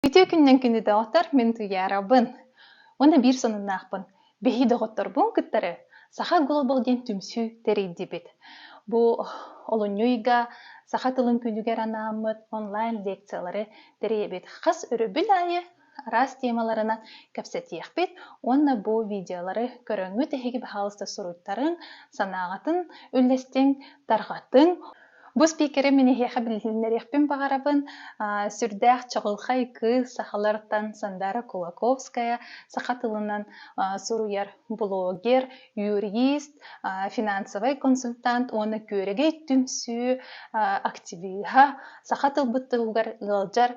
Үтүө күннэн күндү доҕоттор, мин Туйаарабын. Уонна биир сонуннаахпын. Биһи доҕотторбун кыттары Саха Глобал диэн түмсүү тэрийдибит. Бу олунньу ыйга саха тылын күнүгэр анааммыт онлайн лекциялары тэрийэбит. Хас өрөбүл аайы араас темаларынан кэпсэтиэхпит уонна бу видеолары көрөҥҥүт эһиги баһаалыста суруйтарыҥ, санааҕытын үллэстиҥ, тарҕатыҥ. Бу спикеры мин эһиэхэ билиһиннэриэхпин баҕарабын. Сүрдээх чаҕылхай кыыс сахалартан Сандаара Кулаковская саха тылынан суруйар, блогер, юрист, финансовай консультант уонна күөрэгэй түмсүү активиһа, саха тылбыт тылыгар ыалдьар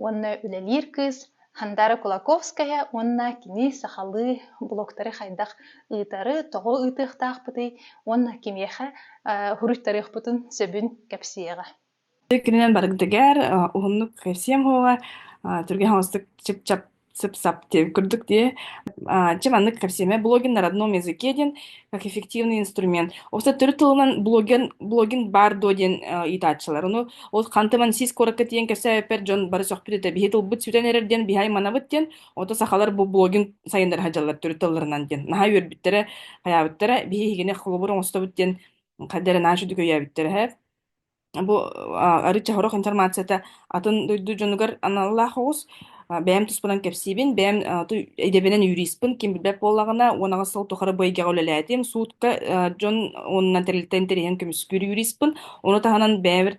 уонна үлэлиир кыыс Хандара Кулаковская уонна кини сахалыы блогтары хайдах ыытары, тоҕо ыытыахтаахпытый уонна кимиэхэ суруйтарыахпытын сөбүн кэпсиэҕэ. Иккининэн барыгытыгар уһуннук сиэм хоҕа түргэн хаҥастык сып-сап курдук дии чи маннык кэпсиэмэ блогиннар одном языке диэн как эффективный инструмент. Офиса төрүт тылынан блогин, блогин баар дуо диэн ыйытааччылар. Ону ол хантыман сис куоракка тиийэн кэпсээппэр дьон бары сөхпүт этэ. Биһи тылбыт сүтэн эрэр диэн биһай манабыт диэн. Ото сахалар бу блогин сайыннары хадьаллар төрүт тылларынан диэн. Наһаа үөрбүттэрэ, хайаабыттара. Биһи хигине холобур оҥостобут диэн хаддара нааш үдүкөйөөбүттэрэ. Бу арыт чаһырох информацията атын дойду дьонугар аналлаах оҕус. Бэйэм туспунан кэпсиибин, бэйэм идэбинэн юриспын, ким билбэт буоллаҕына, уон аҕыс сыл тухары бу эйгэҕэ үлэлээтим. Суутка дьон уонунан тэрилтэ интэриэһин көмүскүүр юриспын. Ону таһынан бэйэбэр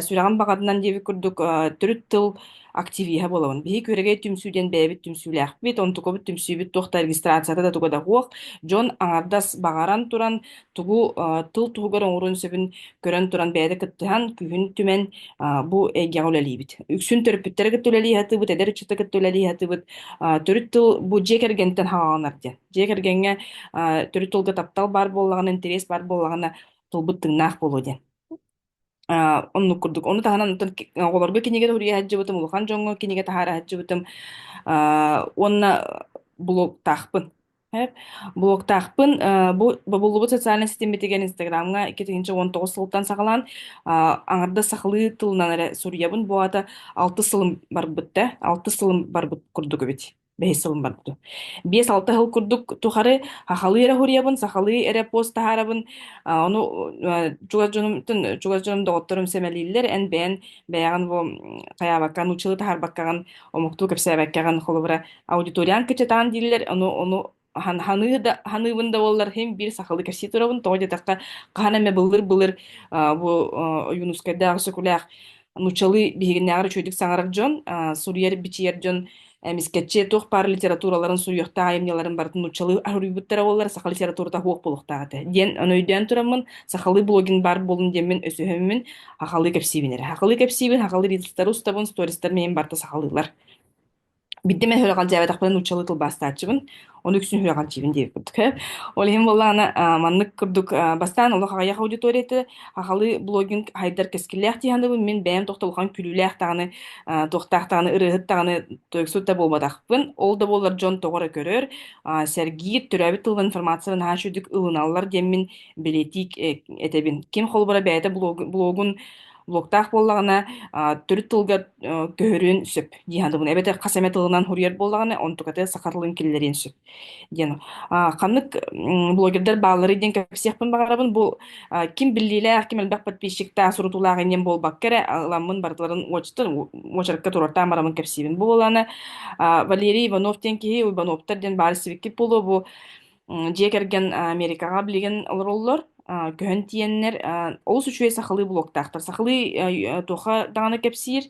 сүрэҕим баҕатынан диэбит курдук төрүт тыл активиһа буолабын. Биһиги күөрэгэй түмсүү диэн бэйэбит түмсүүлээхпит, онтукабыт түмсүүбүт туох да регистрацията да туга да суох. Дьон аҥардас баҕаран туран тугу а, тыл туһугар оҥоруон сөбүн көрөн туран бэйэтэ кыттыһан күүһүн түмэн а, бу эйгэҕэ үлэлиибит. Үксүн төрөппүттэрэ кытта үлэлии сатыыбыт, эдэр ыччата кытта үлэлии сатыыбыт. А, төрүт тыл бу дьиэ кэргэнтэн хаҕаҕанар диэн. Дьиэ кэргэҥҥэ а, төрүт тылга таптал баар буоллаҕына, интэриэс баар буоллаҕына, тылбыт тыҥнаах буолуо диэн. А, оннук курдук. Ону таһынан оттон ки- оҕолорго кинигэ суруйа сылдьыбытым, улахан дьоҥҥо кинигэ таһаара сылдьыбытым. А, уонна блогтаахпын. Эп. Блогтаахпын. А, бу бобуллубут социальнай ситиммитигэр Инстаграмҥа икки тыһыынча уон тоҕус сылтан саҕалаан а, аҥардас сахалыы тылынан эрэ суруйабын. Бу аата алтыс сылым барбыт да, алтыс сылым барбыт курдук эбит. Бэс сылын барбыта. Биэс-алта сыл курдук тухары хахалыы эрэ хуруйабын, сахалыы эрэ пост таһаарабын. А, Ону э, чугас дьонумтан, чугас дьонум доҕотторум сэмэлииллэр. Эн бэйэн бэйэҕин бу м, хайаабакка, нууччалыы таһаарбаккаҕын, омуктуу кэпсээбэккэҕин, холобура, аудиториан кычатаан дииллэр, ону, ону хан- ханыы да ханыыбын да буоллар иһин биир сахалыы кэпсии турабын тоҕо диэтэххэ хаһан эмэ былыр-былыр а, бу а, Ойуунускайдаах Өксөкүлээх нууччалыы биһигиннээҕэр үчүгэйдик саҥарар дьон а, суруйар-бичийэр дьон эмискэччи туох баар литератураларын суруйуохтаах айымньыларын барытын нууччалыы аруйбуттара буоллар саха литературата суох буолуохтаах этэ диэн өйдөөн тураммын сахалыы блогин баар буолун диэммин өсөһөммүн хахалыы кэпсиибин эрэ хахалыы кэпсиибин хахалыы риэлтору устабын стористар миин барыта сахалыылар Bitti мен хүрэҕэр дьээбэтэхпинэ нууччалыы тылбаастааччыбын. Оны үксүн хүрэҕэр дьиибин диэбит курдук. Ол иһин буоллаҕына а, маннык курдук а, бастаан олох аҕыйах аудиторията аҕалыы блогинг хайдар кэскиллээх дии санаабын мин бэйэм тохто улахан күлүүлээх даҕаны а, туохтаах даҕаны ырыаһыт даҕаны тойуксут да буолбатахпын. Ол да буоллар дьон тоҕо эрэ көрөр а, сэргиир төрөөбүт тылбын информацияларын наһаа үчүгдүк ылыналлар диэммин бэлиэтии э, этэбин. Ким холобура бэйэтэ блогун Луоктаах буоллаҕына, а, төрүт тылга э, көһөрүөн сөп. Дии санаатыбын. Эбэтэр хас эмэ тылынан суруйар буоллаҕына, онтуката саха тылын киллэриэн сөп диэн. А, ханнык м, блогердар баалларый диэн кэпсиэхпин баҕарабын. Бу а, ким биллиилээх, ким элбэх подписчиктаах, сурутуулаах инниэн буолбакка эрэ, аламмын барытыларын уочараттан уочаракка туруортаан бараммын кэпсиибин. Бу буолаана, а, Валерий Иванов диэн киһи, Ивановтар диэн баар сибиккит буолуо, бу М, дьиэ кэргэн а, Америкаҕа билигин олороллор. А, көһөн тиийэннэр а, олус үчүгэй сахалыы блоктаахтар. Сахалыы а, туохха даҕаны кэпсиир,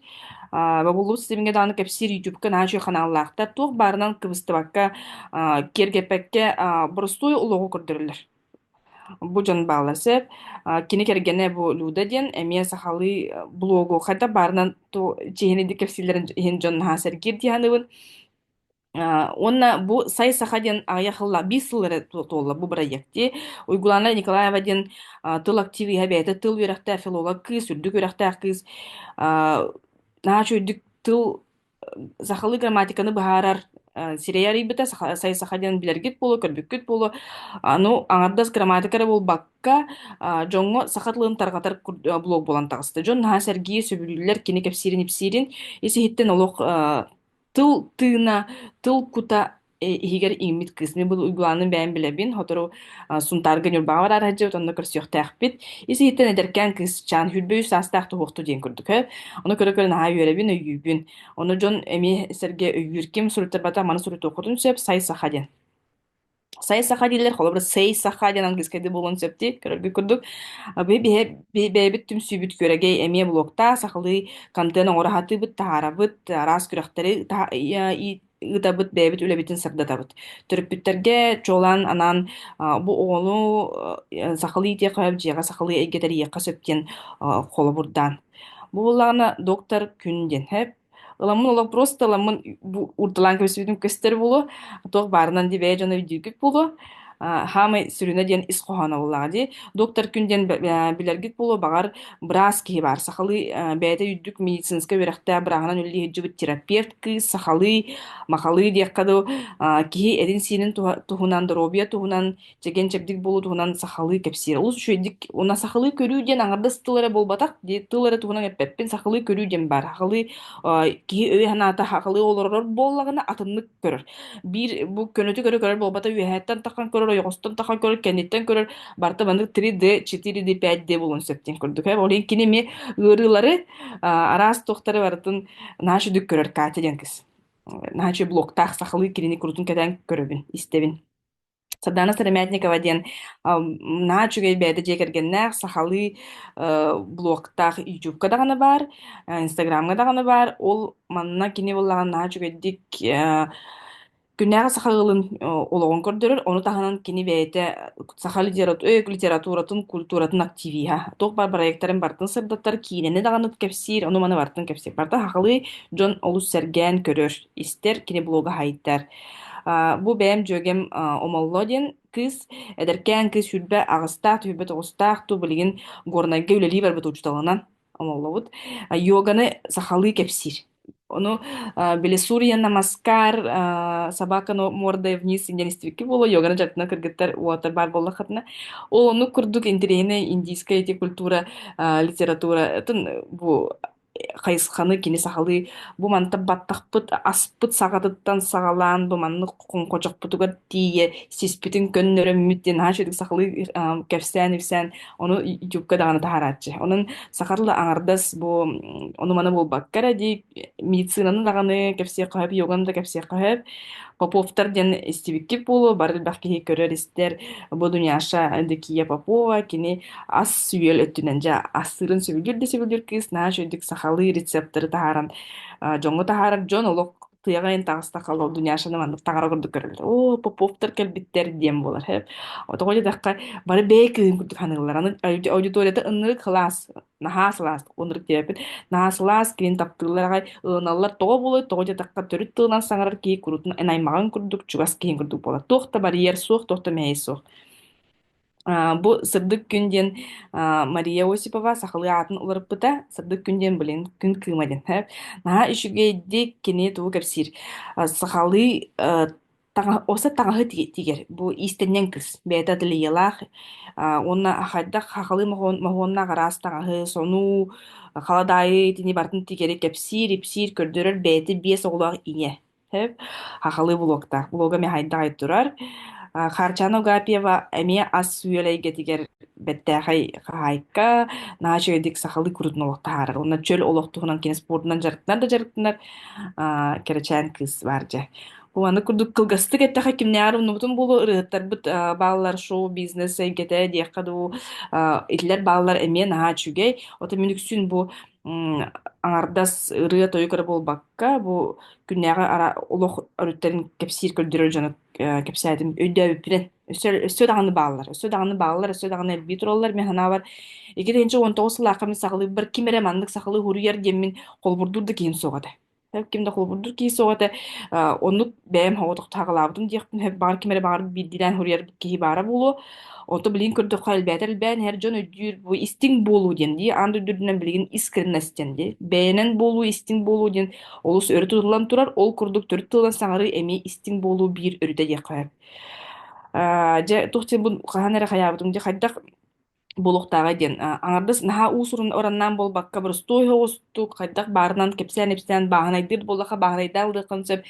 а, бобуллубут системҥэ даҕаны кэпсиир YouTube-ка наһаа үчүгэй ханааллаахтар. Туох баарынан кыбыстыбакка, а, киэргэппэккэ а, боростуой олоҕу көрдөрөллөр. Бу дьон баалар сөп. А, кини кэргэнэ бу Люда диэн эмиэ сахалыы э, блогу хата баарынан ту чиэһинэйдик кэпсииллэрин иһин дьон наһаа сэргиир дии саныыбын. А, Уонна бу «Сай саха» диэн аҕыйах сылла, биир сыл эрэ ту- туолла бу бырайыакти. Уйгулаана Николаева диэн а, тыл активиһа, бэйэтэ тыл үөрэхтээх филолог кыыс, үрдүк үөрэхтээх кыыс. А, наһаа үчүгэйдик тыл, сахалыы грамматиканы быһаарар а, сирэйэ арыйбыта, саха, «Сай саха» диэн билэргит буолуо, көрбүккүт буолуо. Anu аҥардас грамматика эрэ буолбакка, а, дьоҥҥо саха тылын тарҕатар кур- а, блог буолан таҕыста. Дьон наһаа сэргии, сөбүлүүллэр, кини кэпсиирин ипсиирин, ис иһиттэн олох а, тыл тыына, тыл кута э, иһигэр иҥмит кыыс. Мин бу уйгулаанын бэйэм билэбин, сотору а, Сунтаарга Ньурбаҕа бараар сылдьыбыт, онно көрсүөхтээхпит. Ис-иһиттэн эдэркээн кыысчаан сүүрбэ үс саастаах туһуохтуу диэн курдук. э. Ону көрө-көрө наһаа үөрэбин, өйүүбүн. Ону дьон эмиэ сэргэ өйүүр. Ким суруйтарбата, маны суруйтуоххутун сөп, сай саха диэн. Сайа саха дииллэр, холобура сэй саха диэн английскайда буолуон сөпті көрөргүт курдук. А бу биһи бэйэбит түмсүүбүт күөрэгэй эмиэ блоктаа сахалыы контент оҥоро сатыыбыт, таһаарабыт, араас күрэхтэри таһа- э, ий- ыытабыт, бэйэбит үлэбитин сырдатабыт. Төрөппүттэргэ чуолаан анаан а, бу оҕону э, сахалыы итиэхэ, дьиэҕэ сахалыы эйгэ тэрийиэххэ сөп диэн а, холобурдаан. Бу буоллаҕына доктор күн диэн. Ыламмын олох просто ыламмын уурдалаан кэбисибитим көстөр буолуо, туох баарынан ди бэйэ дьоно өйдүүргүт буолуо. А, хаамай сүрүнэ диэн ис хоһооноволлааҕа дии. Доктор күн диэн билэргит буолуо, баҕар, быраас киһи баар. Сахалыы бэйэтэ үрдүк медицинскэй үөрэхтээх бырааһынан үлэлии сылдьыбыт терапевт кыыс, сахалыы, махалыы диэххэ дуу, киһи этин-сиинин туһунан, доруобуйа туһунан чэгиэн-чэбдик буолуу туһунан сахалыы кэпсиир. Олус үчүгэйдик уна сахалыы көрүү диэн аҥардас тыл эрэ буолбатах, дии тыл эрэ туһунан эппэппин. Сахалыы көрүү диэн баар. Сахалыы э, киһи өйө санаата сахалыы олорор буоллаҕына атыннык көрөр. Биир бу көнөтү көрө көрөр буолбата үөһэттэн таххан көрөр, ойоҕостон таххан көрөр, кэнниттэн көрөр барта маннык 3D, 4D, 5D буолуон сөп диэн курдук. Ол иһин кини эмиэ ыарыылары араас туохтары барытын нааш үдүк көрөр Катя диэн кыз. Наачы блоктаах сахалыы кинини курутун кэтээн көрөбүн, истэбин. Сардаана Сыромятникова диэн наһаа үчүгэй бэйэтэ дьиэ кэргэннээх сахалыы блогтаах ютубка даҕаны баар, инстаграмҥа даҕаны баар. Ол манна кини буоллаҕына наһаа үчүгэйдик күннээҕи саха ыалын олоҕун көрдөрөр, ону таһынан кини бэйэтэ саха литературатын, культуратын активиһа. Туох баар бырайыактарын бартын сырдаттар, киинэни даҕаны кэпсиир, ону-маны бартын кэпсиир. Барыта сахалыы дьон олус сэргээн көрөр, истэр, кини блога сайдар. А, бу бэйэм дьүөгэм а, Омолло диэн кыыс, эдэркээн кыыс сүүрбэ аҕыстаах, түһүрбэт оҕустаах, туу билигин Горнайга үлэлии барбыт учууталынан Омоллобут. А, Йоганы сахалыы кэпсиир. Ону а, били Сурьяна Маскар, а, Собака но- мордой вниз диэн истибикки буолуо, йоганы дьатынан кыргыттар уотар баар буоллаххытына, ол оннук курдук интириэһинэй индийская эти культура, а, литература атын бу хайысханы кини сахалыы бу мантан баттахпыт аспыт саҕатыттан саҕалаан бу маннык хоҥхочохпутугар тиийэ сиспитин көннөрөммүт диэн наһаа үчүгэй сахалыы кэпсээн-ипсээн ону ютубка даҕаны таһаарааччы. Онон саха тыла аҥардас бу ону-маны буолбакка эрэ дии медицинаны даҕаны кэпсиэххэ сөп, йоганы да кэпсиэххэ сөп. Поповтар диэн истибиккит буолуо, бары элбэх киһи көрөр-истэр. Бу Дуняша Дикия Попова кини ас-үөл өттүнэн дьэ астыырын сөбүлүүр да сөбүлүүр кыыс наһаа үчүгдүк сахалыы рецепторы таһааран а, дьоҥҥо таһаарар дьон олох тыаҕайын таҕыста халал Дуняшаны маннык таҥара курдук көрөллөр. Оо, Поповтар кэлбиттэр диэн буолар. Тоҕо диэтэххэ, бары бэйэ кыыһын курдук саныыллар. Аны аудиторията ынырык кылаас Наһаа сылаас, оннук диэбит. Наһаа сылаас киһин таптыыллар аҕай, ылыналлар. Тоҕо буолуой, тоҕо диэтэххэ төрүт тылынан саҥарар киһи куруутун эн аймаҕыҥ курдук, чугас киһиҥ курдук буолар. Туох да барьер суох, туох да мэһэй суох. А, бу Сырдык күн диэн а, Мария Осипова сахалыы аатын уларыппыта. Сырдык күн диэн билин күн кыыма диэн. Наһаа үчүгэйдик кини тугу кэпсиир. А, сахалыы таҥаһ осы таҥаһы ти тигэр бу иистэнньэҥ кыс бэйэтэ ательелаах аа уонна хайдах хахалыы моһуон моһуоннаах араас таҥаһы сонуу халадаайы итини барытын тигэри кэпсиир ипсиир көрдөрөр бэйэтэ биэс оҕолоох ийэ сөп хахалыы блоктаах блога эмиэ хайдаҕай турар а, Харчана Угапьева эмиэ ас сүйэл эйгэтигэр бэртээхэй хаһаайка наача үйдик сахалыы курдун олох таһаарар уонна чөл олох туһунан кине спордунан дьарыктанар да дьарыктанар а, кэрэчээн кыыс баар дьэ Аны курдук кылгастык эттэхэ кимнээҕэр умнубутум буолуо ырыаттарбыт а, бааллар шоу-бизнес эйгэтэ диэххэ дуу а, итилэр бааллар эмиэ наһаа үчүгэй отон мин үксүн бу м, аҥардас ырыа-тойук эрэ буолбакка бу күннээҕи ара олох өрүттэрин кэпсиир көрдөрөр дьону э, кэпсээтим өйдөөбүппүнэн өссө өссө даҕаны бааллар өссө даҕаны бааллар өссө даҕаны элбии тураллар мин санаабар ити тыһыынча он тоҕус сылаахха мин сахалыырбар ким эрэ маннык сахалыы уһуруйар диэммин холобурдуур да киһим суоҕа этэ ким да холобурдуур киһи суох этэ а, оннук бэйэм соҕотохтоһаҕалаабытым диэхпин сөп баҕар ким эрэ баҕар биирдиилээн суруйар киһи баара буолуо онто билигин көрдөххө элбээтэ элбээн иһэр дьон өйдүүр бу истиҥ буолуу диэн дии аан дойду үрдүнэн билигин искренность диэн дии бэйэнэн буолуу истиҥ буолуу диэн олус өрө тутуллан турар ол курдук төрүт тылынан саҥарыы эмиэ истиҥ буолуу биир өрүтэ диэххэ сөп. А, дьэ туох диэн бу хаһан эрэ хайаабытым дии хайдах Буолуохтааҕа диэн аҥардас наһаа уусурун ораннаан буолбакка боростуой оҕустук хайдах баарынан кэпсээн-ипсээн бааһынайдыыр буоллаха бааһынайдаан ылыаххын сөп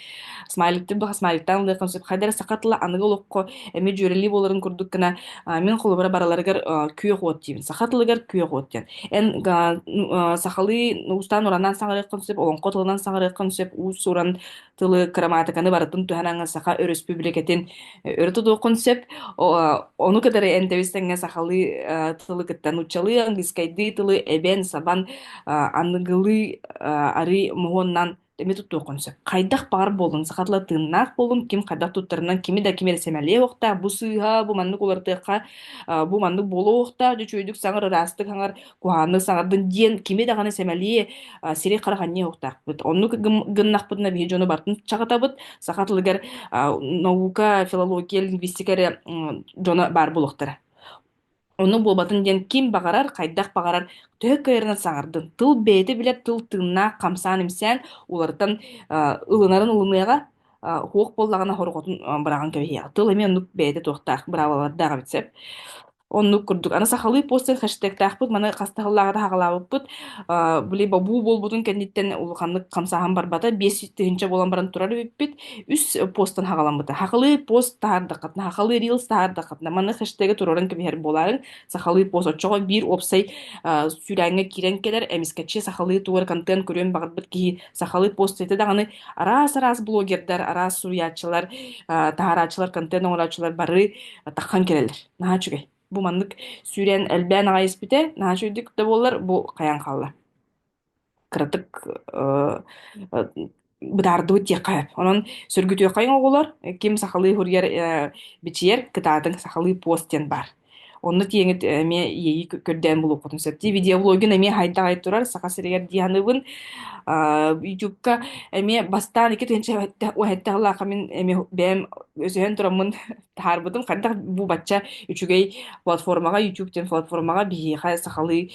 смайликтыыр буоллаха смайликтаан ылыаххын сөп хайда эрэ саха тыла аныгы олоххо эмиэ дьүөрэлии буоларын курдук гына а, мин холобура бараларыгар а, күөх уот диибин саха тылыгар күөх уот диэн эн а, ну, а, сахалыы уустаан уранаан саҥарыаххын сөп олоҥхо тылынан саҥарыаххын сөп уус-уран тылы кырамаатыканы барытын туһанан Саха Өрөспүүбүлүкэтин э, өрө тутуоххун сөп. Ону кытары энтэбис тэҥҥэ сахалыы э, тылы кытта нууччалыы, английскайдыы тылы эбэн, сабан, э, аныгылыы арыы муһуоннан эми туттуоххун сөп. Хайдах баҕар буоллун, саха тыла тыыннаах буолун, ким хайдах туттарынан, кими да кими да сэмэлиэ охтаах, бу сыыһа, бу маннык улартыахха, бу маннык буолуо охтаах, үчүгэйдик саҥар ыраастык хаҥар, Куһаанны саҕардын диэн кими даҕаны сэмэлии а, сирэй-харах анньыа уктаахпыт. Оннук гым- гыннахпытына биһи дьону бартын чаҕытабыт. Саха тылыгар а, наука, филология, лингвистика эрэ м, дьоно баар буолуохтара. Ону буолбатын диэн ким баҕарар, хайдах баҕарар төһө кыайарынан саҥардын. Тыл бэйэтэ билэр тыл тыыннаах, хамсаан-имсээн уларытан а, ылынарын ылыныаҕа, а, уһуох буоллаҕына хорҕотун а, быраҕан кэбиһиэҕэ. Тыл эмиэ оннук бэйэтэ туохтаах быраабылалардаах эбит сөп. Оннук курдук. Аны сахалыы постер хэштегтаахпыт, маны хас таһыллааҕы да саҕалаабыппыт. А, били бобуу буолбутун кэнниттэн улаханнык хамсааһын барбата. Биэс тыһыынча буолан баран турар эбиппит. Үс постан хаҕаламмыта. Хахалыы пост таһаардаххытына, хахалыы рилс таһаардаххытына, маны хэштеги туруоран кэбиһэр буолаарыҥ. Сахалыы пост оччоҕо биир уопсай а, сүүрээҥҥэ киирэн кэлэр, эмискэччи сахалыы тугар контент көрүөн баҕарбыт киһи сахалыы пост этэ даҕаны араас-араас блогердар, араас суруйааччылар, таһаарааччылар, контент оҥорооччулар бары таххан кэлэллэр. Наһаа үчүгэй. Бу маннык сүүрээн элбээн аҕай испитэ, наһаа үчүгэйдик да буоллар, бу хайаан хаалла. Кыратык быдаардыбыт диэххэ. Онон сөргүтүөххэҥ оҕолор, ким сахалыы суруйар, бичийэр, кытаатыҥ сахалыы пост диэн баар. Онно тиэҥи эмиэ иэйии көрдөөн булуохпутун сөп. Видеоблогин эмиэ хайдаҕай турар, Саха сиригэр дии саныыбын. Аа, YouTube-ка эмиэ бастаан икки тыһыынча уһэттэ сыллаахха мин эмиэ бэйэм өсөһөн тураммын таһаарбытым. Хайдах бу бачча үчүгэй платформаҕа, YouTube диэн платформаҕа биһиэхэ сахалыы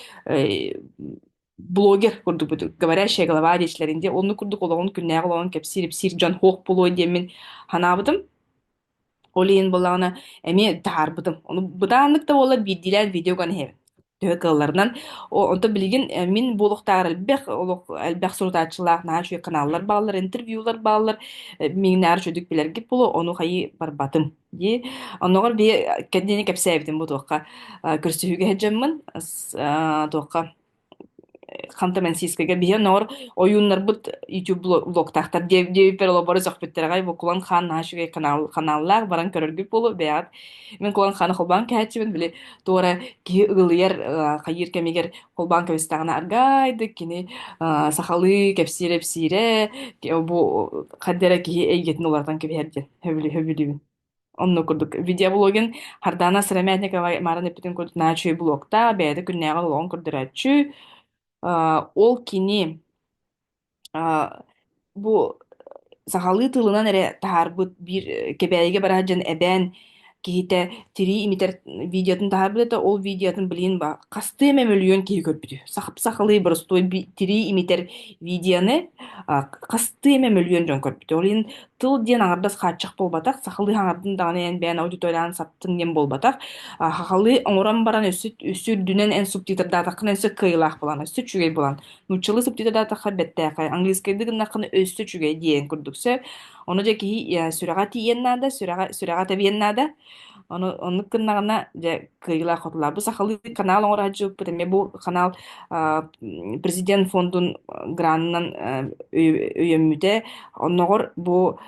блогер курдук говорящая голова диэчилэрин диэн оннук курдук олоҕун күннээҕи олоҕун кэпсиир ипсиир дьон суох буолуой диэммин санаабытым ол иһин буоллаҕына эмиэ таһаарбытым ону бытааннык да буоллар биирдиилээн видеоган иһэбин төһө кыалларынан онто билигин э, мин буолуохтааҕар элбэх олох элбэх сурутааччылаах наһаа үчүгэй каналлар бааллар интервьюлар бааллар э, миҥнэҕэр үчүгүйдүк билэргит буолуо ону хайыы барбатым дии. Оннооҕор бии кэнниини кэпсээбитим бу туохха э, көрсүһүүгэ сылдьаммын с- э, туохха ханта мансийскайга биһи оннооҕор ойууннарбыт YouTube блог- блогтаахтар диэ диэбиппэр олоборо сөхпүттэр аҕай бу кулан хаан нааш үчүгэй канал канааллаах баран көрөргүт буолуо бэйэҕит мен кулан хааны холбоон кээччибин били туора киһи ыгылыйар э, хайыыр кэмигэр холбоон кэбистэҕинэ аргайдык кини э, сахалыы кэпсиирэ эпсиирэ бу хаддара киһи эйгэтин уларытан кэбиһэр диэн Сөбүлүһэ билибин. Онно курдук видеоблогин Хардана Сыромятникова марын эппитин курдук наачүй блогта бэйэтэ күннээҕи блогун көрдөрөөччү Э, ол кини э, бу сахалыы тылынан эрэ таһаарбыт биир э, кэбээйигэ бараат дьон эбээн киһитэ тирии имитэр видеотын таһаарбыт этэ, ол видеотын, блин, ба хастыы эмэ мөлүйүөн киһи көрбүтэ. Сах сахалыы боростуой би тирии имитэр видеоны, а, хастыы эмэ мөлүйүөн дьон көрбүтэ. Ол иһин тыл диэн аҥардас хааччах буолбатах, сахалыы хаҥардын даҕаны эн бэйэҥ аудиториялаан саптыҥ диэн буолбатах. А, хахалыы оҥорон баран өссө өссө үрдүнэн эн субтитрдаатаххына өссө кыайыылаах буолан, өссө үчүгэй буолан Нууччалыы субтитры да таххар бэттээхэ. Английскайды гыннаххына өссө үчүгэй диэн курдук сөп. Ону дьэ киһи э, сүрэҕэ тиийэн наада, сүрэҕэ сүрэҕэ тэбиэн наада. Ону оннук гыннаҕына дьэ кыайыылаах хотулаах. Бу сахалыы канал оҥорааччыппыт эмиэ бу канал а, президент фондун гранынан өйөммүтэ. Онноҕор бу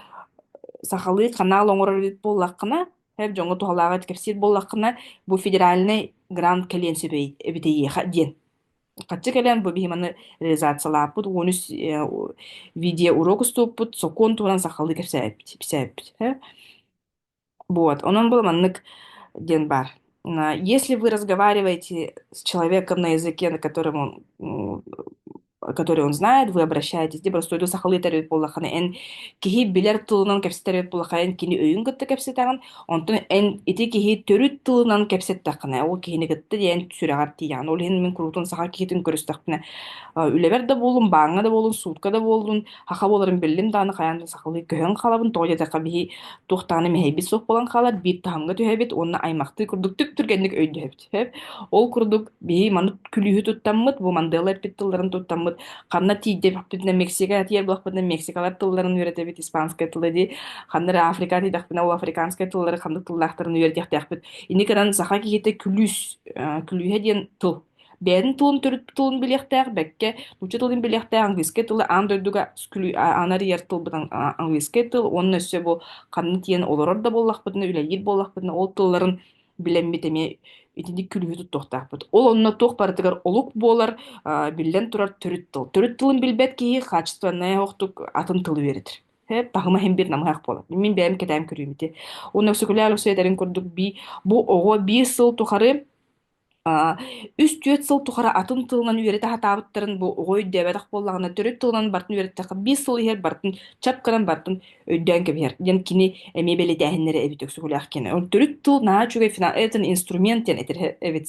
сахалыы канал оҥорор буоллаххына, эр дьоҥҥо туһалааҕы кэпсиир буоллаххына, бу федеральный грант кэлиэн сөп эбит эйиэхэ диэн. Харчы кэлэн бу биһи маны реализациялааппыт, уон үс э, видеоурок уступпут, сокуон туһунан сахалыы кэпсээбиппит. э. Вот. Онон был маннык ден бар. А, Если вы разговариваете с человеком на языке, на котором он м, который он знает, вы обращаетесь деп расстойду сахалыы тэрбит буоллаххына эн киһи билэр тылынан кэпсэтэр эбит буоллахха эн кини өйүн кытта кэпсэтэҕин Онтон эн ити киһи төрүт тылынан кэпсэттэххинэ, ол киһини кытта диэн сүрэҕэр тиийэҕин. Ол иһин мин куруутун саха киһитин көрүстэхпинэ, э, үлэбэр да буоллун, бааҥҥа да буоллун, суутка да буоллун, хаха буоларын биллим даҕаны хайаан да сахалыы көһөн хаалабын. Тоҕо диэтэххэ, биһи туох даҕаны мэһэйбит суох буолан хаалар, биир таһымҥа түһэбит уонна аймахтыы курдук түк түргэнник өйдөһөбүт. Сөп. Ол курдук, бии маннык күлүүһү туттаммыт, бу Мандела эппит тылларын туттаммыт, ханна тиийдэбиппитинэ Мексика тиийэр буолахпытына Мексикалар тылларын үөрэтэбит, испанскай тылы дии, ханна эрэ Африка тиийдэхпинэ ол африканскай тыллары ханнык тыллаахтарын үөрэтиэхтээхпит. Ини гынан саха киһитэ күлүүс, э, күлүүһэ диэн тыл. Бэйэтин тылын төрүт тылын билиэхтээх, бэккэ нуучча тылын билиэхтээх, английскай тылы аан дойдуга күлүү анарыйар тылбыт английскай тыл, уонна өссө бу ханна тиийэн олорор да буоллахпытына, үлэлиир буоллахпытына ол тылларын билэммит эмиэ итинник күлүүһү туттуохтаахпыт. Ол онно туох барытыгар олук буолар, биллэн турар төрүт тыл. Төрүт тылын билбэт киһи хаачыстыбаннай охтук атын тылы үөрэтэр. таһыма иһин бир намыһах болот. Мин бэйэм кэтэм көрүүбүти. Уна Өксөкүлээл өсөйдэрин курдук би бу оҕо биир сыл тухары үс-түөрт сыл тухары атын тылынан үөрэтэ хатаабыттарын бу оҕо өйдөөбөтөх буоллаҕына төрүт тылынан бартын үөрэттэххэ биир сыл иһэр бартын чапканан бартын өйдөөн кэбиһэр диэн кини эмиэ бэлитээһиннэрэ эбит өксөкүлээх кини он төрүт тыл наа үчүгэй финал этин инструмент диэн этэр эбит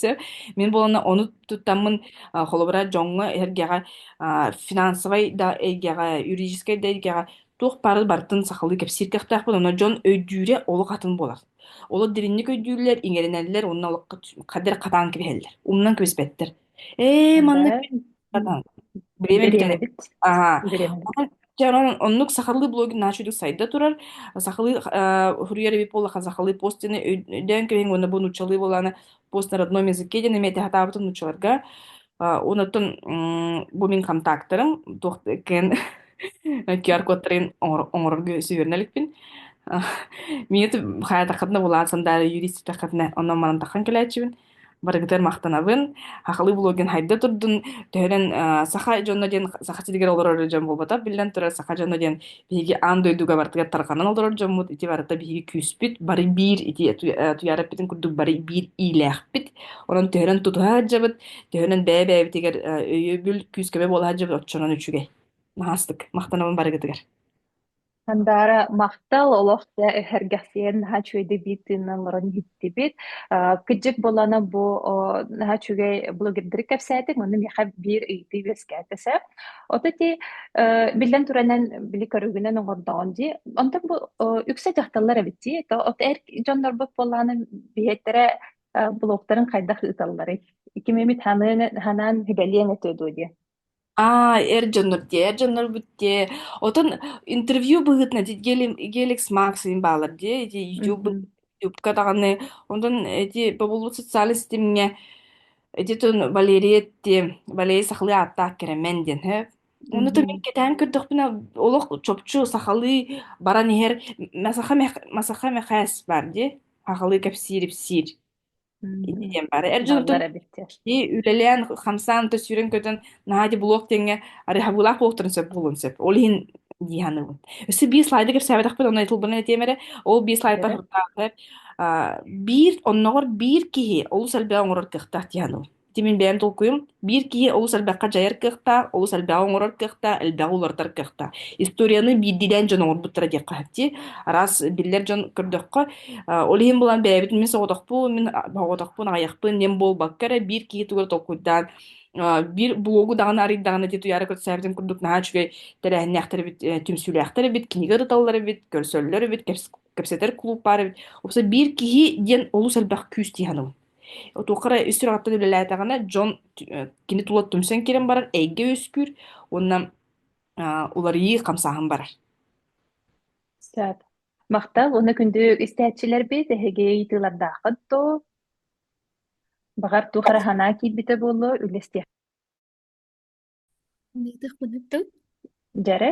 мин буолана ону туттаммын холобура дьоҥҥо эргэҕэ финансовай да эйгэҕэ юридическай да эйгэҕэ туох бары бартын сахалыы кэпсииртэхтэхпин оно дьон өйдүүрэ олох атын болар олор дириҥник өйдүүллэр иҥэринэллэр уонна олоххо қадыр қатаан кэбиһэллэр умнан кэбиспэттэр ээ маннык Время биэрэбит. Аһа. Биэрэбит. Дьэ, онон оннук сахалыы блогер наачыйдык сайда турар. Сахалыы э, суруйар эбит буоллаха сахалыы постины өйдөөн кэбиҥ уонна бу нууччалыы буолааны пост на родном языке диэн эмиэ таһатаабытын нууччаларга. Онуттан бу мин контактарым туох кэн QR-кодтарын оҥорорго сүһүөрүнэ иликпин. Мине хаатахатна булаан сандаары юрист тахатна онон манан тахан кэлээччибин барыгытыгар махтанабын. Хахалыы блогин хайда турдун, төһөнөн э, саха дьонно диэн саха сиригэр олорор дьон буолбата, биллэн турар, саха дьонно диэн биһиги аан дойдуга барытыгар тарҕанан олорор дьоммут, ити барыта биһиги күүспүт, бары биир ити э, туйаараппытын курдук бары биир иилээхпит. Онон төһөнөн тутуһа сылдьабыт, төһөнөн бэйэ-бэйэбитигэр э, өйөбүл, күүскэбэ буолаһа дьабыт, оччонон үчүгэй. Наһастык, махтанабын барыгытыгар. Handaара махтал олох дьэ эһэргэхсийэн наһаа үчүгэйдик биир тыынынан олорон иһиттибит. Э, кыдьык буолана бу о, наһаа үчүгэй блогердары кэпсээтиҥ, ону миэхэ биир ыйытыы үөскээтэ сөп. Ото ти э, биллэн туранан били көрүгүнэн оҥордоҕун дии. Онтон бу о, үксэ дьахталлар эбит дии. То от эр дьоннорбут буоллааны биһиэттэрэ э, блогтарын хайдах ыыталларый? Кимимит ханыан ханаан һибэлиэн этэ дуу дии. А, эр дьоннор дии, эр дьоннорбут дии. Отон интервью быһыытынан ити Геликс Максыйын баалар дии, ити YouTube Мгм. YouTubeка даҕаны. Онтон эти бобуллубут социальнай ситимҥэ эти тон Валерия ти Валерия сахалыы ааттаах кэрэмен диэн һэ. Оны то мин Мгм. кэтээн көрдөхпүнэ олох чопчу сахалыы баран иһэр Масаха Мэхэ- Масаха Мэхээс бар дии. Сахалыы кэпсиир ипсиир. Ити диэн бары эр дьонтон и үлэлээн хамсаан да сүүрэн көтөн наһаа ди блок тэҥҥэ арыһабыылаах буолуохтарын сөп буолуон сөп ол иһин дии саныыбын өссө биир слайды кэпсээбэтэхпит онно айтылбын этиэм эрэ ол биир слайдтан сырдаатар биир оннооҕор биир киһи олус элбэҕи оҥорор кыахтаах дии саныыбын Ити мин бэйэм толкуйум. Биир киһи олус элбэххэ дьайар кыахтаах, олус элбэҕи оҥорор кыахтаах, элбэҕи уларытар кыахтаах. Историяны биирдиилээн дьон оҥорбуттара диэххэ сөп дии. Араас биллэр дьон көрдөххө, э, ол иһин булан бэйэбит мин соҕотохпун, мин соҕотохпун аҕыйахпын диэн буолбакка эрэ биир киһи тугу толкуйдаан э, биир блогу даҕаны арыйдаҕына дии туйаара көрсөөбүтүн курдук наһаа үчүгэй тэрээһиннээхтэр эбит, э, түмсүүлээхтэр эбит, кинигэ ырыталлар эбит, көрсөллөр эбит, кэпс- кэпсэтэр кулууп баар эбит. Уопсай биир киһи диэн олус элбэх күүс дии саныыбын. Отуохха эрэ үс сүрэҕиттэн үлэлээтэҕинэ дьон кини тула түмсэн киирэн барар эйгэ үөскүүр уонна уларыйыы хамсааһын барар. Сөп. Махтал уонна күндүк истээччилэрбит эһиги ыйытыылардааххыт дуо? Баҕар туох эрэ санаа киирбитэ буолуо, үллэстиэх. Дьэрэ?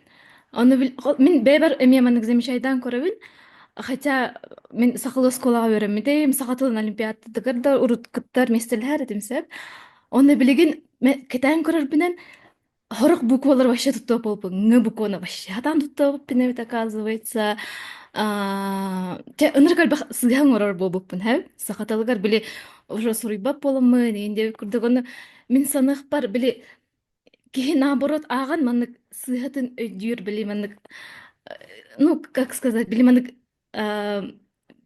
Оны бил мин бэйбэр эмиэ маннык замечайдан көрөбүн. Хотя мен сахал оскуолаҕа үөрэммитим, саха тылын олимпиадатыгар да урут кыттар местелэһэр этим сөп. Оны билигин мен кэтээн көрөрбүнэн Хорох буквалар вообще туттуа болбуг. Ҥ буквана вообще хатан туттуа биппинэбит оказывается. Аа, Те ыныр кальбах сыган орор болбуппун хэм. Саха тылыгар били уже суруйбап боламмын, инде курдук оны мин санах бар били Киһи наоборот ааҕан маннык сыыһатын өйдүүр били маннык ну как сказать били маннык э,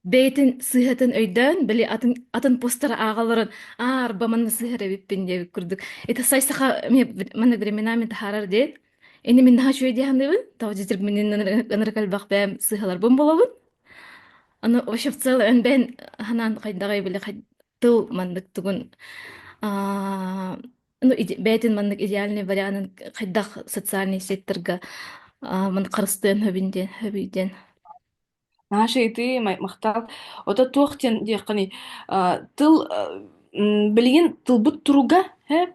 бэйэтин сыыһатын өйдөөн били атын атын постары ааҕаларын аарба манна сыһар эбиппин диэбит курдук это сай саха мне маннык временами таһаарар диэт ини мин наһаа үчүгэй диэханыбын тав дитир минин ынырыкальбах бэм сыһаларбын болобун аны вообще в целом эн бэйэн ханан хайдаҕай били тыл маннык тугун Ну, иде- бэйэтин маннык идеальный варианын хайдах социальный сеттерга а, ман харыстыан хөбүн диэн хөбүй диэн Маша, и ты ма- махтал. Ото туох диэн диэххиний, а, тыл а, м, билигин тылбыт туруга э,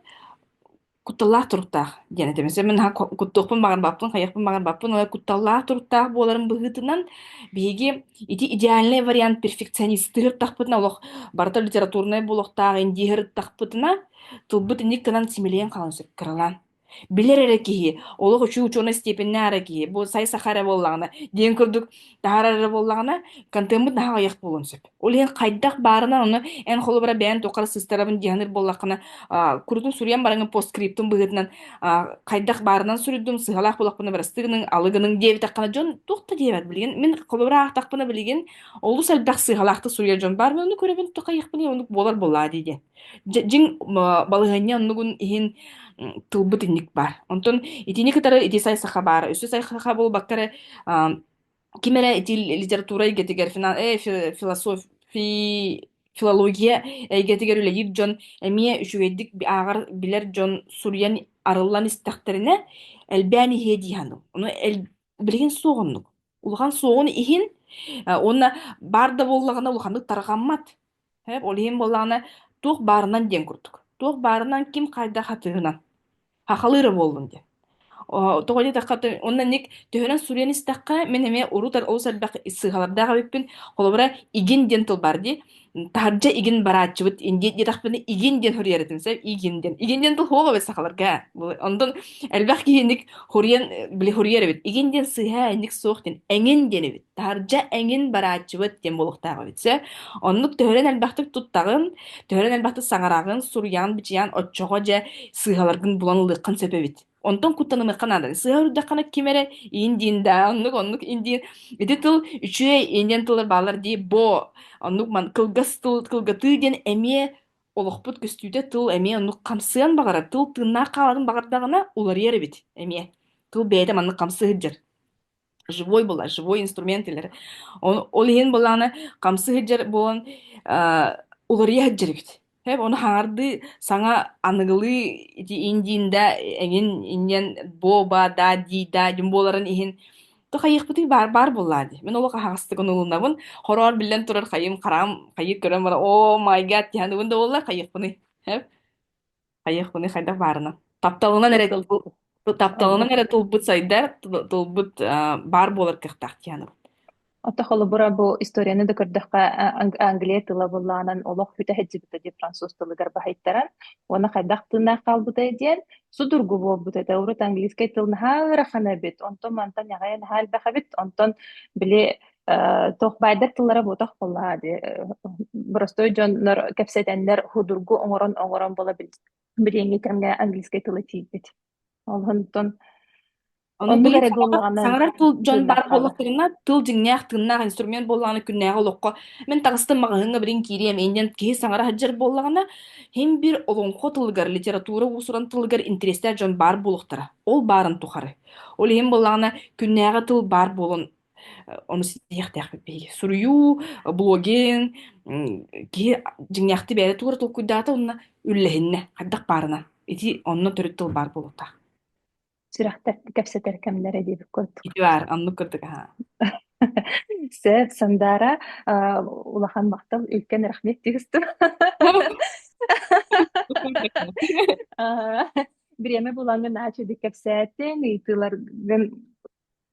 кутталлаах туруктаах диэн этэ. Mesela мен ха куттуохпун баҕар баппын, хайыахпын баҕар баппын, але кутталлаах туруктаах буоларын быһыытынан биһиги ити идеальный вариант перфекционистты ырыттахпытына олох барыта литературнай буолуохтаах, индииһи ырыттахпытына Тылбыт инник гынан симилийэн хаалан сөп кыралаан. Билэр эрэ киһи, олох үчүгэй учуонай степеннээх эрэ киһи, бу сай саха эрэ буоллаҕына, диэн курдук таһаарар эрэ буоллаҕына, контеммут наһаа аҕыйах буолуон сөп. Ол иһин хайдах баарынан ону эн холобура бэйэҥ туохха да сыстарабын дьаһанар буоллаххына, аа, курутун суруйан бараҥҥын постскриптун быһыытынан аа, хайдах баарынан суруйдум, сыһалаах буолахпына барастыы гыныҥ, алы гыныҥ диэбитэххинэ дьон туох да диэбэт билигин. Мин холобура аахтахпына билигин олус элбэх сыһалаахтык суруйар дьон баар, мен оны көрөбүн, туох хайыахпыный, оннук буолар буоллаа дии диэн. Дьэ, дьиҥ балаһыанньа оннугун иһин тылбыт инник баар. Онтон итини кытары ити сайсаха баара. Үсү сайсаха буолбакка эрэ ким эрэ ити литература эйгэтигэр философия филология эйгэтигэр үлэлиир дьон эмиэ үчүгэйдик ааҕар билэр дьон суруйан арыллан истэхтэринэ элбээн иһиэ дии саныыбын. Ону билигин суох оннук. Улахан суоҕун иһин уонна баар да буоллаҕына улаханнык тарҕаммат. Һэп, ол иһин буоллаҕына, туох баарынан диэн курдук. Туох баарынан, ким хайдах атыһынан хахалыыра буоллун диэн. Оо, тоҕо диэтэххэ, ты уонна ник төһөнөн суруйан истэххэ, мин эмиэ урут ар олус элбэх сыыһалардаах эбиппин. Холобура, игин диэн тыл баар дии. Таһырдьа игин барааччыбыт, индиэ диэтэхпинэ, игин диэн хоруйар этим, сөп? Игин диэн. Игин диэн тыл суох эбит сахаларга. Бу онтон элбэх киһиник хоруйан, били хоруйар эбит. Игин диэн сыыһа, инник суох диэн, эҥин диэн эбит. Таһырдьа эҥин барааччыбыт диэн буолуохтаах эбит. Сөп. Оннук төһөрөн элбэхтик туттаҕын, төһөрөн элбэхтик саҥараҕын, суруйаҕын-бичийэҕин оччоҕо дьэ сыыһаларгын булан ылыаххын сөп эбит. Онтон куттанымыахха наада. Сыыһа үрдэххинэ ким эрэ иин диин да, оннук оннук иин диин ити тыл үчүгэй иин диэн тыллар бааллар дии, бо оннук ман кылгас тыл кылгатыы диэн эмиэ олохпут көстүүтэ тыл эмиэ оннук хамсыан баҕарар тыл тыыннаах хааларын баҕардаҕына уларыйар эбит эмиэ. Тыл бэйэтэ маннык хамсыы сылдьар. живой булар живой инструмент илэр ол иһин былаана хамсы сылдьар буолан уларыйа сылдьаргыт хэп ону хаҥардыы саҥа аныгылыы ити индиинда эҥин инньэн бо ба да дии да дьум буоларын иһин то хайыахпытый баар баар буоллаа дии мин олох аһаҕастык унулунабын хороор биллэн турар хайым хараам хайык көрөн баран о май гад тиһэн угун да буоллар хайыахпыный хэп Хайыахпыный, хайдах баарынан. Тапталынан эрэ тылбыт, тапталынан эрэ тулбут сайда, тулбут а, баар буолар кыахтаах диэхэнэбин. Ата холобура бу историяны да көрдөххө Англия тыла былаанан олох хүтэ сылдьыбыта дии француз тылыгар баһыйтаран уонна хайдах тыыннаах хаалбытай диэн судургу буолбут этэ урут английскай тыл наһаа ыарахан эбит онтон мантан аҕай наһаа элбэх эбит онтон били туох баайдар тыллара буотах буоллаа ди простой дьоннор кэпсэтэннэр худургу оҥорон оҥорон бола билиэҥҥи кэмҥэ английскай тылы тиийбит олонтон оннук эрэ саҥарар тыл дьон баар буоллахтарына тыл дьиҥнээх тыыннаах инструмент буоллаҕына күннээҕи олоххо мин таҕыстым маҕаһыыҥҥа билин киириэм иннин киһи саҥара сылдьар буоллаҕына һин бир олоҥхо тылыгар литература уусуран тылыгар интэриэстээх дьон баар буолуохтара ол баарын тухары ол иһин буоллаҕына күннээҕи тыл баар буолан Ону ситиһиэхтээхпит биһиги. Суруйуу, блогинг, киһи дьиҥнээхтик бэйэтэ туора толкуйдаата уонна үллэһиннэ хайдах баарынан. Ити онно төрүт тыл баар буолуохтаах. Сүрэхтэрти кэпсэтэр кэмнэрэ диэбит курдук. Үтүө аар, оннук курдук аһаа. Сэ, Сандаара, а, улахан махтал, үлкен рахмет дигистим. А, Бириэмэ булаҥҥын аачыдык кэпсээтин, ыйытыыларгын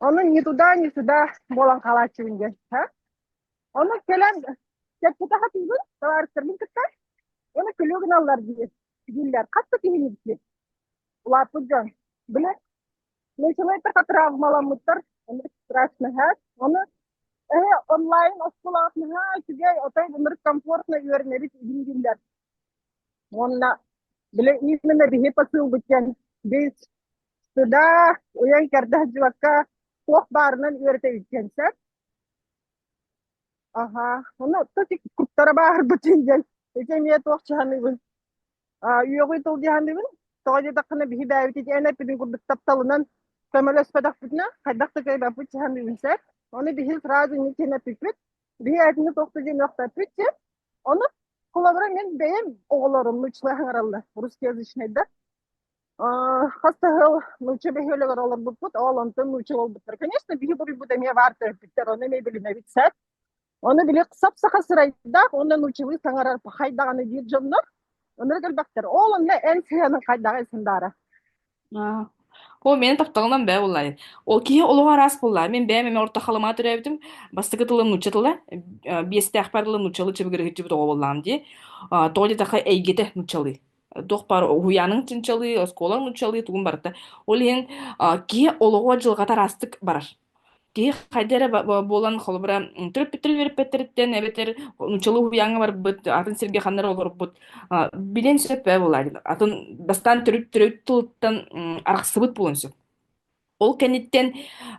Ону ни туда, ни сюда буолан хаалааччыбын диэн. Ону кэлэн чэппитэ хатыыбын, товаристарбын кытта оны күлүү гыналлар дии дииллэр. Хатта киһиликки. Улааппыт дьон. Били, научнайдар травмаламмыттар, страшнаһар. Оны эһэ онлайн оскулаах наһаа үчүгэй, отой гымыр комфортно үөрнэбит игин дииллэр. Уонна били именно биһи посылбыт диэн бейс Сыда, уйан керда хадьыбакка, туох баарынан үөрэтэбит диэн сөп. Аха, ону тотик куттара баарбытын диэн, ити эмиэ туох чаһаныыбын. А, үөҕүй тыл диһаныыбын, тоҕо диэтэххинэ биһи бээбит ити эн эппитин курдук тапталынан көмөлөспөтөхпүтүнэ, хайдах да кэйбэппит чаһаныыбын сөп. Ону биһи фраза не тен эппиппит, биһи этини тоқты диэн өхтөппүт диэн, ону холобура мен бэйэм оҕолорум нучлы хаңараллар русскоязычныйда. хас да сыл нуучча бөһүөлэгэр олорбуппут ол онтон нуучча буолбуттар конечно биһи буруйбут эмиэ баар төрөппүттэр ону эмиэ билинэбит сөп ону били сап саха сырайдаах уонна нууччалыы саҥарар пахай даҕаны диир дьоннор өлөр кэлбэттэр ол онно эн сыһыаның хайдаҕы сындаара оо мені тапталынан бෑ буллаайын ол киһи олоҕо араас булла мен бэйэм эме орто халыма төрөөбүтүм бастакы тылым нуучча тыла биэстээх бар тылы нууччалыы чыбыгырыгыччыбыт оҕо буллаам дии тоҕо диэтэххэ эйгэтэ нууччалыы туох баар уһуйааның чинчалыы, оскуолаҥ нууччалыы тугун барыта. Ол иһин а, киһи олоҕо дьылҕата араастык барар. Киһи хайда эрэ ба- ба- буолан холобура м, төрөппүттэр үөрэппэттэриттэн эбэтэр нууччалыы уһуйааҥҥа барбыт, атын сиргэ ханна эрэ олорбут, а, билиэн сөп ээ буолар. Атын бастаан төрүт төрүт тылыттан м, арахсыбыт буолуон сөп. Ол кэнниттэн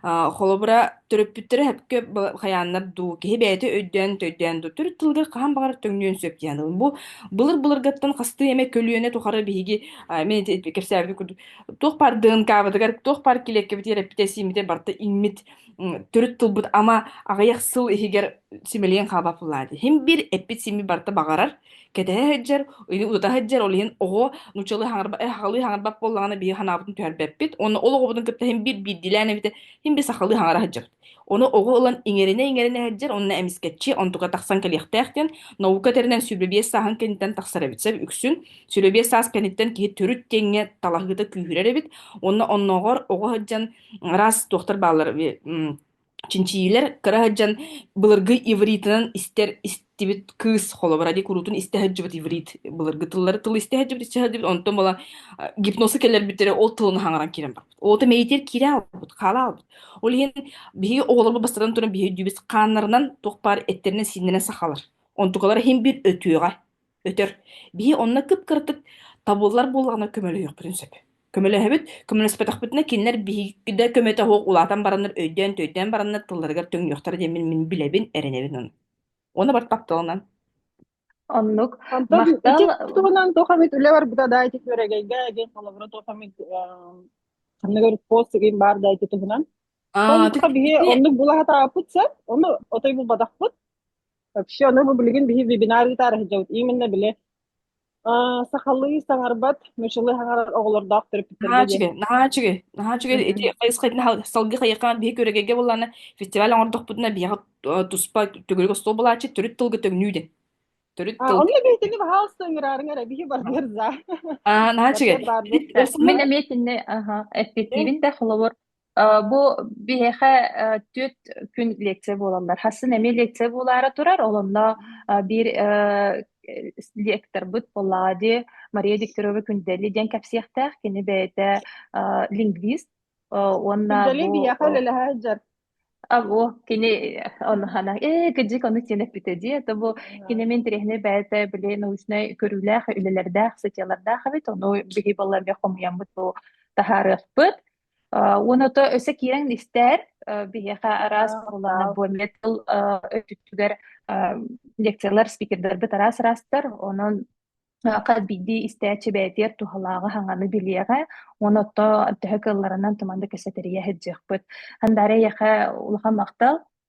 а, холобура төрөппүттэрэ сөпкө б- хайааннар дуу киһи бэйэтэ өйдөөн төйдөөн дуу төрүт тылыгар хаһан баҕар төҥнүөн сөп диэн ылын. Бу былыр былыргаттан хастыы эмэ көлүөнэ тухары биһиги а, мен ити кэпсээбитим курдук туох баар ДНК-бытыгар туох баар килиэккэбитигэр эппитэ-сиимитэ барыта иҥмит м, төрүт тылбыт ама аҕыйах сыл иһигэр симэлийэн хаалбаппыллаа дии. Иһин биир эппит-сииммит барыта баҕарар. Кэтэһэ сылдьар, ута сылдьар, ол иһин оҕо нууччалыы хаҥырбат, э, сахалыы хаҥырбат буоллаҕына биһи санаабытын түһэрбэппит. Уонна ол оҕобутун кытта син биир биирдиилээн эбитэ, син биир сахалыы хаҥыра сылдьабыт. Оны оҕо ылан иҥэринэ-иҥэринэ сылдьар, онно эмискэччи онтука тахсан кэлиэхтээх диэн наука этэринэн сүрбэ биэс сааһын кэнниттэн тахсар эбит. Сөп үксүн сүрбэ биэс саас кэнниттэн киһи төрүт киэҥҥэ талаһыыта күүһүрэр эбит. Уонна оннооҕор оҕо сылдьан араас туохтар бааллар чинчийиилэр кыра сылдьан былыргы ивритынан истэр истибит кыыс холобура дии куруутун истэ сылдьыбыт иврит былыргы тыллары тылы истэ сылдьыбыт истэ сылдьыбыт онтон була э, гипносы кэлэрбиттэрэ ол тылына хаҥаран киирэн барбыт оота мэйитигэр киирэ аалбыт хаала аалбыт ол иһин биһиги оҕолорбут бастатан туран биһи өйдүүбүт хааннарынан туох баар эттэринэн сииннэринэн сахалар онтукалара иһин биир өтүөҕэ Өтөр. Биһи онно кып-кыратык табыллар буоллаҕына көмөлөһүөхпүтүн сөп. Көмөлөһөбүт, көмөлөспөтөхпүтүнэ кинилэр биһиги да көмөтө суох улаатан бараннар, өйдөөн-төйдөөн бараннар тылларыгар төҥнүөхтэрэ диэн мин, мин билэбин, эрэнэбин ону. Ону бар тапталынан. Оннук. Онтон ити Махтал. туһунан туох эмит үлэ барбыта да ити күөрэгэйгэ эгин холобура туох эмит ханныгар пост игин баар да ити туһунан. Аа, Сонука биһи оннук булаһатааппыт сеп, ону отой булбатахпыт. Вообще, ну, мы билигин биһи вебинар ыытаары сылдьабыт. Именно били а, сахалыы саҥарбат, мөчөлөй хаҥарар оҕолордоох төрөппүттэргэ наһаа үчүгэй наһаа үчүгэй наһаа үчүгэй ити салгы хайыхаан биһи көрөгейге буллаана фестиваль оҥордохпутуна биһиэхэ туспа төгүрүк остуол булааччы төрүт тылга төгнүү дин төрүт тыл онно биһитини баһаалыста ыҥыраарыҥара биһи барбыар заа аа наһаа үчүгэй мен эмиэ кинини аха эппиттиибин да холобур Э, Бу биһиэхэ э, түөрт күн лекция буолаллар. Хасын эмиэ лекция буолаары турар, олонно э, биир э, лекторбыт Поллади Мария Викторова Күндэлli диэн кэпсиэхтээх, кини бэйэтэ э, лингвист э, уонна Күндэлли бу биһиэхэ э, үлэлэһэ сылдьар. а бу кини ону хана э кыдьык ону сиэн эппитэ дии это бу кини мин тириһинэ бэйэтэ били научнай көрүүлээх үлэлэрдээх сытиалардаах эбит ону биһи балла бе хомуйаммыт бу таһаарыахпыт Уона то өсө киирэн истээр биһиэхэ араас оруоланар бу метал өтүттүгэр лекциялар спикердэрбит араас ырастар онон хат биирдии истээччи бээтиэр туһалааҕы хаҥаны билиэҕэ уон отто төһө кылларынан туманды кэсэтэрийэ сыдьыахпыт хандаары эйэхэ улахан махтал